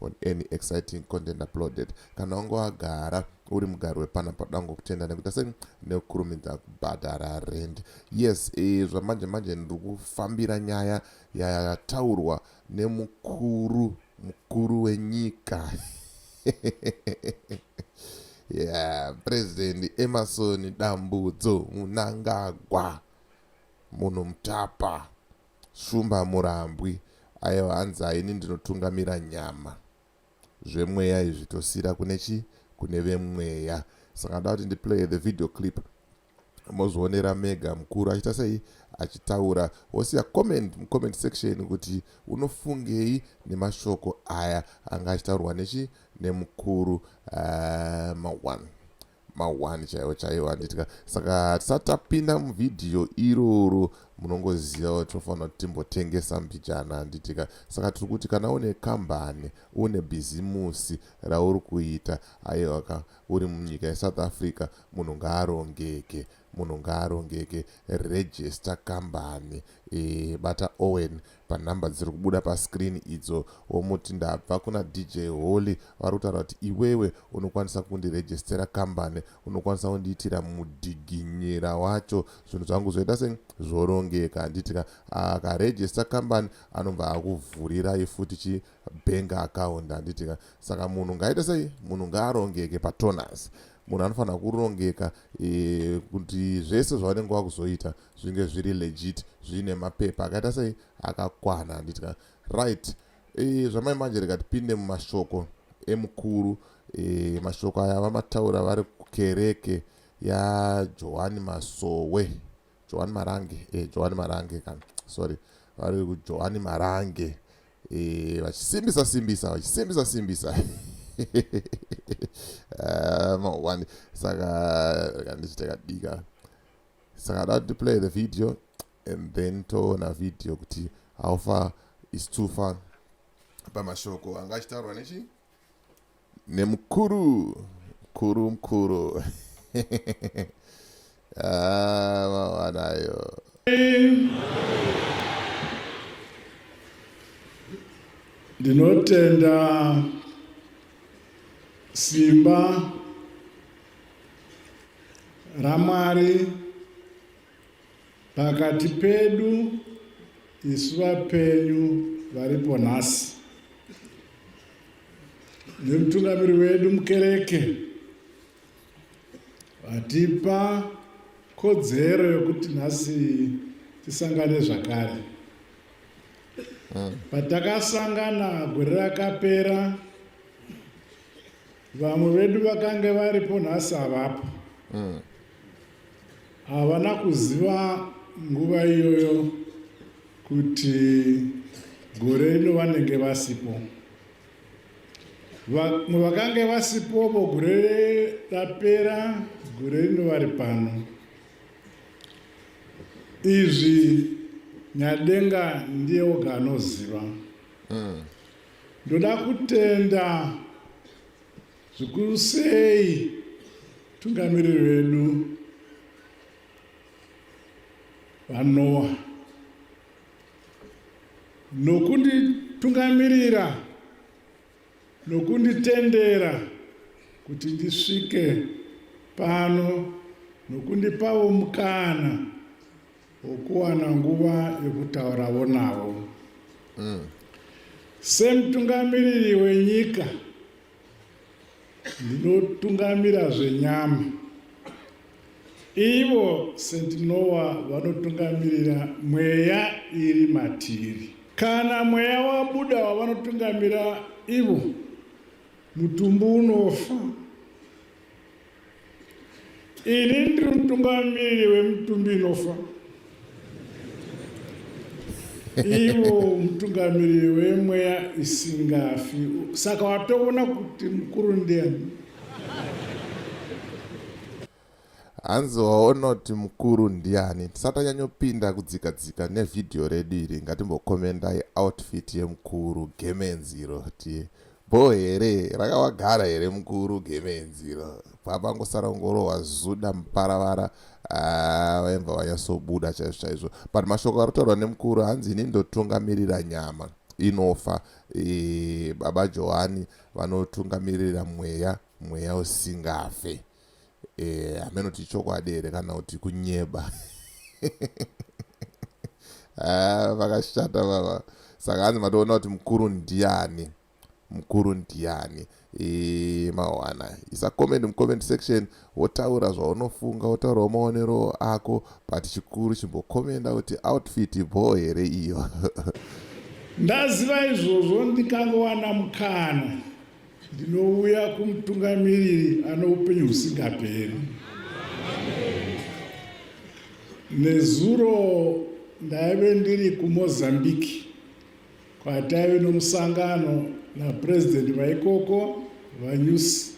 on any exciting content uploaded kana wange wagara uri mugari wepana padango kutenda nekuita sei nekukurumidza kubhadhara rend yes e, zvamanje manje ndiri kufambira nyaya yataurwa nemukuru mukuru wenyika yeah president emerson dambudzo munangagwa munhu mutapa Shumba murambwi ayo hanzaa ini ndinotungamira nyama zvemweya izvi tosira kune chi kune vemweya saka ndoda kuti ndi playe the video clip mozvionera mega mukuru achiita sei achitaura wosiya comment mucomment section kuti unofungei nemashoko aya anga achitaurwa nechi nemukuru uh, mawan mahwani chaiwo chaiwo handiti ka saka tisati tapinda muvhidhiyo iroro munongoziva kuti tofanira kuti timbotengesa mbijana handiti ka saka tiri kuti kana une kambani une bhizimusi rauri kuita aiwa ka uri munyika yesouth africa munhu ngaarongeke munhu ngaarongeke register kambani e, bata owen panhamba dziri kubuda pascreen idzo womuti ndabva kuna dj holy vari kutaura kuti iwewe unokwanisa kundirejistera kambani unokwanisa kundiitira mudhiginyira wacho zvinhu zvangu zvoita se zvorongeka handiti ka akarejista kambani anobva akuvhurirai futi chi bank account handiti ka saka munhu ngaite sei munhu ngaarongeke patonus munhu anofanira kurongeka e, kuti zvese zvavanenge vakuzoita zvinge zviri legit zviine mapepa akaita sei akakwana handiti ka right e, zvamai manje reka tipinde mumashoko emukuru e, mashoko aya vamataura vari kukereke yajohani masowe johani marange eh, johani marange kana sorry vari kujohani marange eh, vachisimbisa simbisa vachisimbisa simbisa eh, mawani saka kandichitakadika saka da kuti play the video and then toona video kuti how far is too far pamashoko anga achitaurwa nechi nemukuru mkuru mkuru ah, mawanayo ndinotenda simba ramwari Pakati pedu isu vapenyu varipo nhasi nemutungamiri wedu mukereke vatipa kodzero yokuti nhasi tisangane zvakare hmm. patakasangana gore rakapera vamwe vedu vakange varipo nhasi havapo mm. havana kuziva nguva iyoyo kuti gore rino vanenge vasipo vamwe vakange vasipovo gore rapera gore rino vari pano izvi nyadenga ndiye oga anoziva mm. Ndoda kutenda zvikuru sei tungamiriri vedu vanowa nokunditungamirira nokunditendera kuti ndisvike pano nokundipavo mukana ukuwana nguva yokutaurawo navo mm. semutungamiriri wenyika ndinotungamira zvenyama ivo sentinowa vanotungamirira mweya iri matiri kana mweya wabuda wavanotungamira ivo mutumbu unofa Ini ndiri mutungamiri wemutumbi inofa ivo mutungamiriri wemweya isingafi saka watoona kuti mukuru ndiani hanzi waonoti mukuru ndiani tisati anyanyopinda kudzika dzika nevhidhiyo redu iri ngatimbokomendai outfit yemukuru gemenziro ti Bhoo here rakawagara here mukuru gemenzi iro papangosara kungorohwa zuda muparavara ah, vaimva vanyasobuda chaizvo chaizvo but mashoko ari kutaurwa nemukuru hanzi ini ndotungamirira nyama inofa e, baba johani vanotungamirira mweya mweya usingafe eh, hameno kuti chokwadi here kana kuti kunyeba ah, vakashata ah, vava saka hanzi matoona kuti mukuru ndiani mukuru ndiani e, mawana isa comment mucomment section wotaura zvaunofunga wotaurawo maonero ako but chikuru chimbokomenda kuti outfit bho here iyo ndaziva izvozvo ndikangowana mukana Ndinouya kumutungamiriri ano upenyu husingaperi. Nezuro ndaive ndiri kuMozambique kwataive nomusangano napurezidendi vaikoko VaNyusi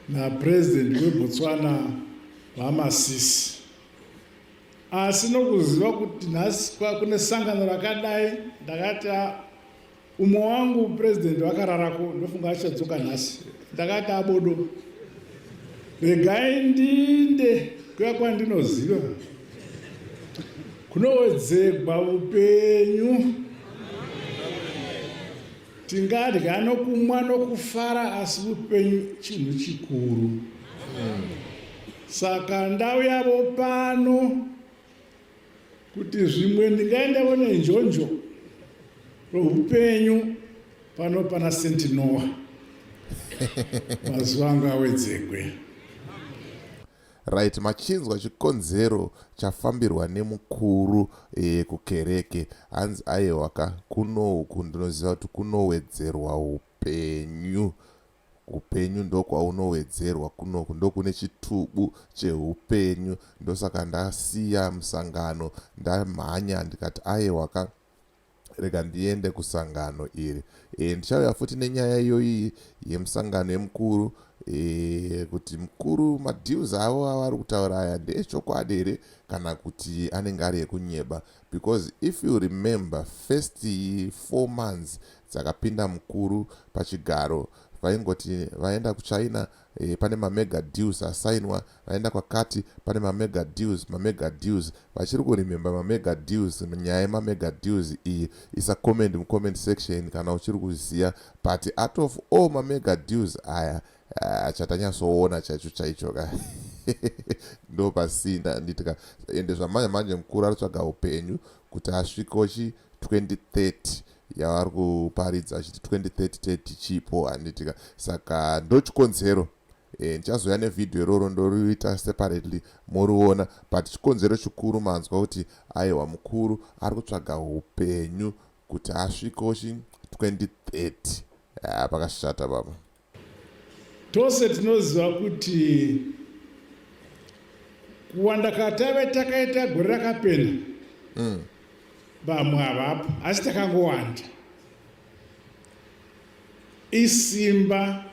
napurezidendi weBotswana VaMasisi. Asi nokuziva kuti nhasi kune sangano rakadai ndakati Umwe wangu president vakararako ndofunga achadzoka nhasi. Ndakati abodo. Regai ndinde kuya kwandinoziva. Kunowedzegwa upenyu. Tingadya nokumwa nokufara asi upenyu chinhu chikuru. Saka ndau yavo pano kuti zvimwe ndingaenda vone njonjo rohupenyu pano pana senti noa mazuva anga awedzekwe right machinzwa chikonzero chafambirwa nemukuru e, kukereke hanzi ayewa ka kuno uku ndinoziva kuti kunowedzerwa upenyu Hupenyu ndokwaunowedzerwa kunoku ndokune chitubu chehupenyu ndosaka ndasiya musangano ndamhanya ndikati ayewa ka rega ndiende kusangano iri e, ndichauya futi nenyaya iyoyi yemusangano yemukuru e, kuti mukuru madeals avo avari kutaura aya ndeechokwadi here kana kuti anenge ari ekunyeba Because if you remember first four months dzakapinda mukuru pachigaro vaingoti vaenda kuchina e, pane mamega deals asainwa vaenda kwakati pane mamega deals mamega deals vachiri kurememba mamega deals nyaya yemamega deals iyi isa comment mucomment section kana uchiri kuziya but out of all mamega deals aya Ah, chatanyatsoona chaicho chaicho ka ndo pasina handiti ka ende zvamanje manje mukuru ari tsvaga upenyu kuti asviko chi 2030 yavari kuparidza achiti 2030 tichipo handiti ka saka ndo chikonzero eh, ndichazoya e, nevhidhiyo iroro ndoriita separately moriona but chikonzero chikuru manzwa kuti aiwa mukuru ari kutsvaga upenyu kuti asviko chi 2030 ah, pakashata baba Tose tinoziva kuti kuwanda katave takaita gore rakapena mm. vamwe havapo asi takangowanda isimba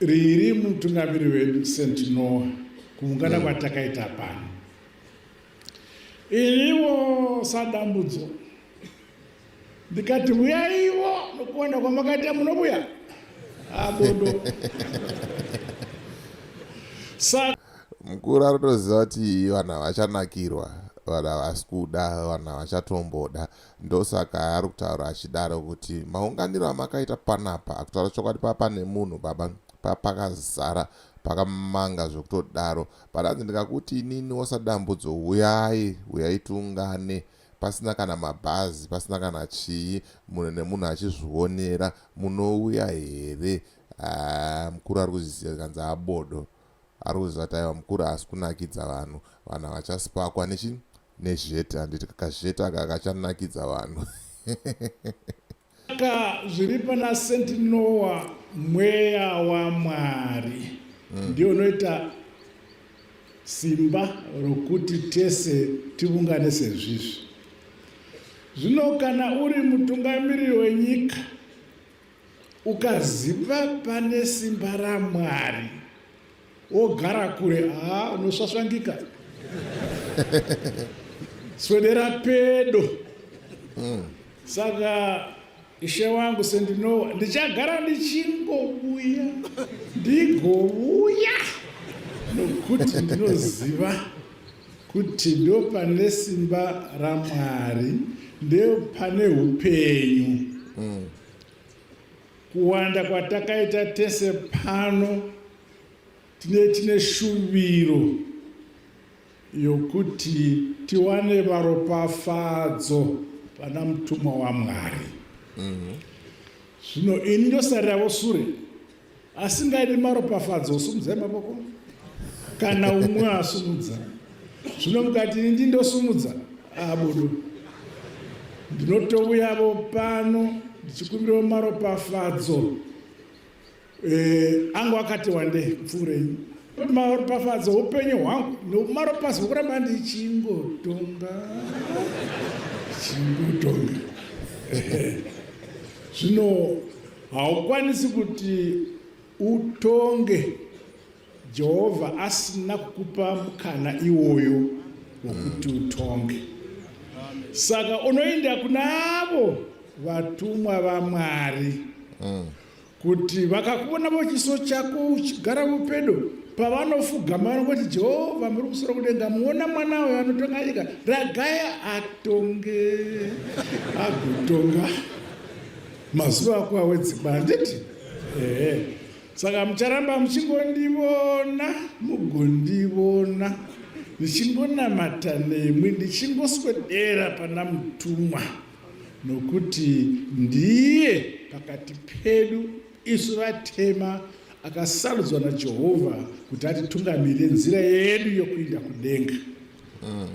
riri mutungamiri wedu st noa kuungana mm. kwatakaita pano Iriwo sadambudzo ndikati huyaiwo nokuwanda kwamakaita munobuya abodo mukuru anotoziva kuti vanhu havachanakirwa vanhu havasi kuda vanhu havachatomboda ndosaka ari kutaura achidaro kuti maunganiro amakaita panapa akutaura chokwadi papa nemunhu baba papakazara pakamanga zvekutodaro But hanzi ndikakuti inini osadambudzo huyai huyai tiungane pasina kana mabhazi pasina kana chii munhu nemunhu achizvionera munouya here ah, mukuru ari kuzvisiya zvikanzi abodo ari kuziva taiwa mukuru haasi kunakidza vanhu vanhu havachasipakwa nechi nezhete handiti kakazhete aka kachanakidza vanhu Saka zviri pana Saint Noah mweya waMwari mm. ndio unoita simba rokuti tese tivungane sezvizvi. Zvino kana uri mutungamiri wenyika ukaziva pane simba raMwari wogara kure haa unosvasvangika swedera pedo mm. saka ishe wangu sendinowa ndichagara ndichingovuya ndigovuya nokuti ndinoziva kuti ndo pane simba ramwari ndo pane upenyu mm. Kuwanda kwatakaita tese pano tine tine shuviro yokuti tiwane varopafadzo vana mutumwa waMwari. Mhm. Zvino mm -hmm. ini ndosarirawo sure asingaidi maropafadzo osumudzai maboko kana umwe asumudza zvino mukati ndi ndosumudza abudu ndinotouyavo pano ndichikumbirawo maropafadzo eh, angu akati wande pfuurei maropafadzo upenyu hwangu nomaropazi wokuramba ndichingotonga chingotonga zvino haukwanisi kuti utonge Jehovha asina kukupa mukana iwoyo wokuti utonge. Saka unoenda kuna avo vatumwa vaMwari mm. kuti vakakuvona vochiso chako uchigara vopedo pavanofugama vanongoti jehovha muri kusoro kudenga muona mwana uyo anotonga nyika ragaya atonge agotonga mazuva ako awedzimba handiti ehe saka mucharamba muchingondivona mugondivona ndichingonamata nemwi ndichingoswedera pana mutumwa nokuti ndiye pakati pedu isu vatema akasarudzwa najehovha kuti atitungamirire nzira yedu yokuinda kudenga mm.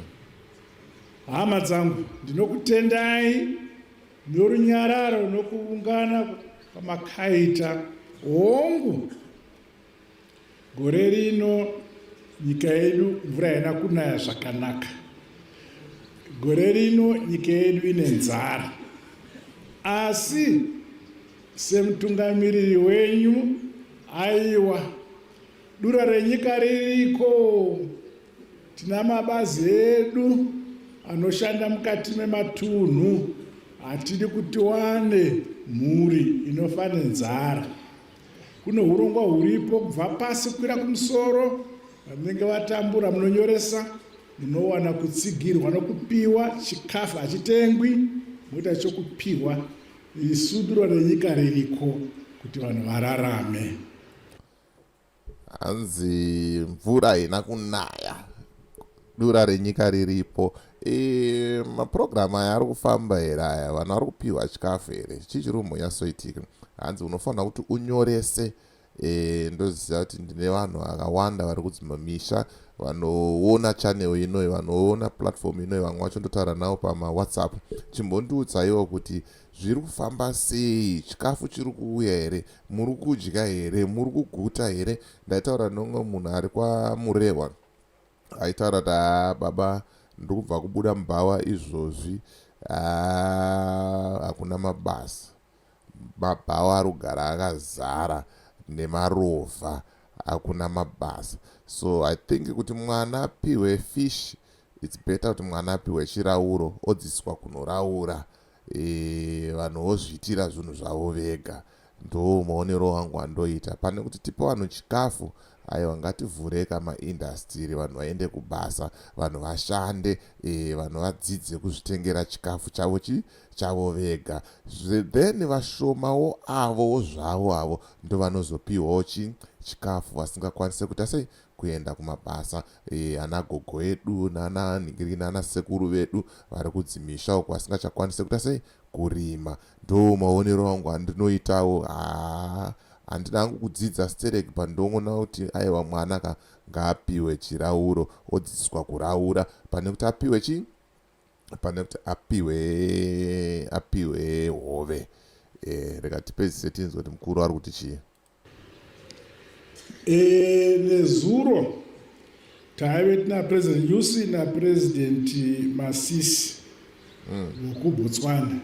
hama dzangu ndinokutendai Norunyararo nokuungana kwamakaita, hongu, gore rino nyika yedu mvura haina kunaya zvakanaka, gore rino nyika yedu ine nzara, asi semutungamiriri wenyu, aiwa, dura renyika ririko. Tina mabazi edu anoshanda mukati mematunhu hatidi kuti wane mhuri inofa nenzara. Kune hurongwa huripo kubva pasi kukwira kumusoro, vanenge vatambura munonyoresa, munowana kutsigirwa nokupiwa chikafu hachitengwi, moita chokupiwa isuduro renyika ririko kuti vanhu vararame. Hanzi mvura haina kunaya dura renyika riripo e, mapurogiramu aya ari kufamba here aya vanhu vari kupiwa chikafu here chii chiri kumbonyasoitika hanzi unofanira kuti unyorese e, ndoziva kuti ndine vanhu vakawanda vari kudzimba misha vanoona channel inoyi vanoona platform inoyi vamwe vacho ndotaura navo pamawhatsapp chimbondiudzaiwo kuti zviri kufamba sei chikafu chiri kuuya here muri kudya here muri kuguta here ndaitaura neumwe munhu ari kwamurehwa aitaura kuti haa baba ndiri kubva kubuda mubhawa izvozvi hakuna mabasa mabhawa ari kugara akazara nemarovha hakuna mabasa so i think kuti mwana apihwe fish its better kuti mwana apihwe chirauro odziswa kunoraura eh, vanhu vozviitira zvinhu zvavo vega ndo maonero wangu andoita pane kuti tipe vanhu chikafu aiwa ngativhureka maindastiri vanhu vaende kubasa vanhu vashande e, vanhu vadzidze kuzvitengera chikafu chavo chi chavo vega then vashomawo avowo zvavo avo ndovanozopiwawo chi chikafu vasingakwanise kuita sei kuenda kumabasa eh, ana gogo edu nana nhingi nana sekuru vedu vari kudzimisha uko asingachakwanise kuita sei kurima ndo maonero angu andinoitawo haa handina hangu kudzidza sterek pandongoona kuti aiwa mwana ka ngaapiwe chirauro odzidziswa kuraura pane kuti apiwe chii pane kuti apiwe apiwe hove e, rega tipedzise tinzwe kuti mukuru ari kuti chii E, nezuro taive tina president yusi napresident masisi vokubotswana mm.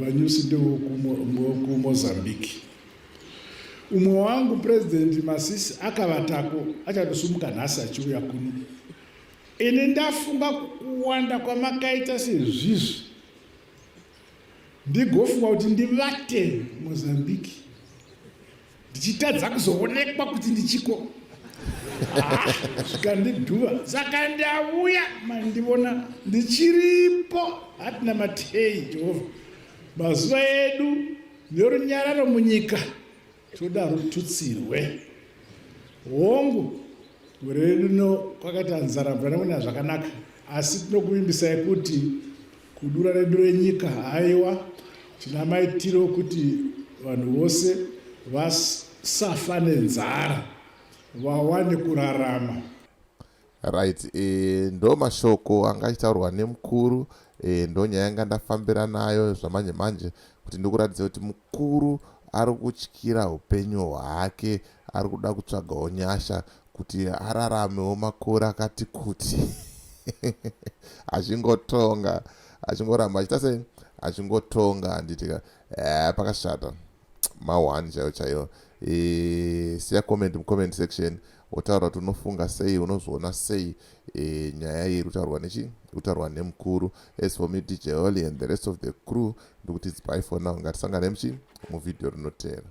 vanyusi ndevokumozambique umwe wangu president masisi akavatako achatosumuka nhasi achiuya kuno ini ndafunga kuwanda kwamakaita sezvizvi ndigofunga kuti ndivate mozambique ndichitadza kuzoonekwa kuti ndichiko zvikandidhuva saka ndauya mandivona ndichiripo hatina matei jehovha mazuva edu nerunyararo munyika toda rututsirwe hongu gore redu rino kwakaita nzara mvura nekunaya zvakanaka asi tinokuvimbisai kuti kudura redu renyika haiwa tina maitiro okuti vanhu vose vasafa nenzara vawane kurarama Right, e, ndo mashoko anga achitaurwa nemukuru e, ndo nyaya yanga ndafambira nayo zvamanje manje kuti ndikuratidza kuti mukuru ari kutyira upenyu hwake ari kuda kutsvagawo nyasha kuti araramewo makore akati kuti achingotonga achingoramba achita sei achingotonga handitika e, pakashata ma one chaiyo chaiyo e, siya comment mucomment section wotaura kuti unofunga sei unozviona sei e, nyaya iyi irikutaurwa nechi irikutaurwa nemukuru as for me dj holy and the rest of the crew ndikuti dzipai for now ngatisangane muchi muvhidhiyo rinoteera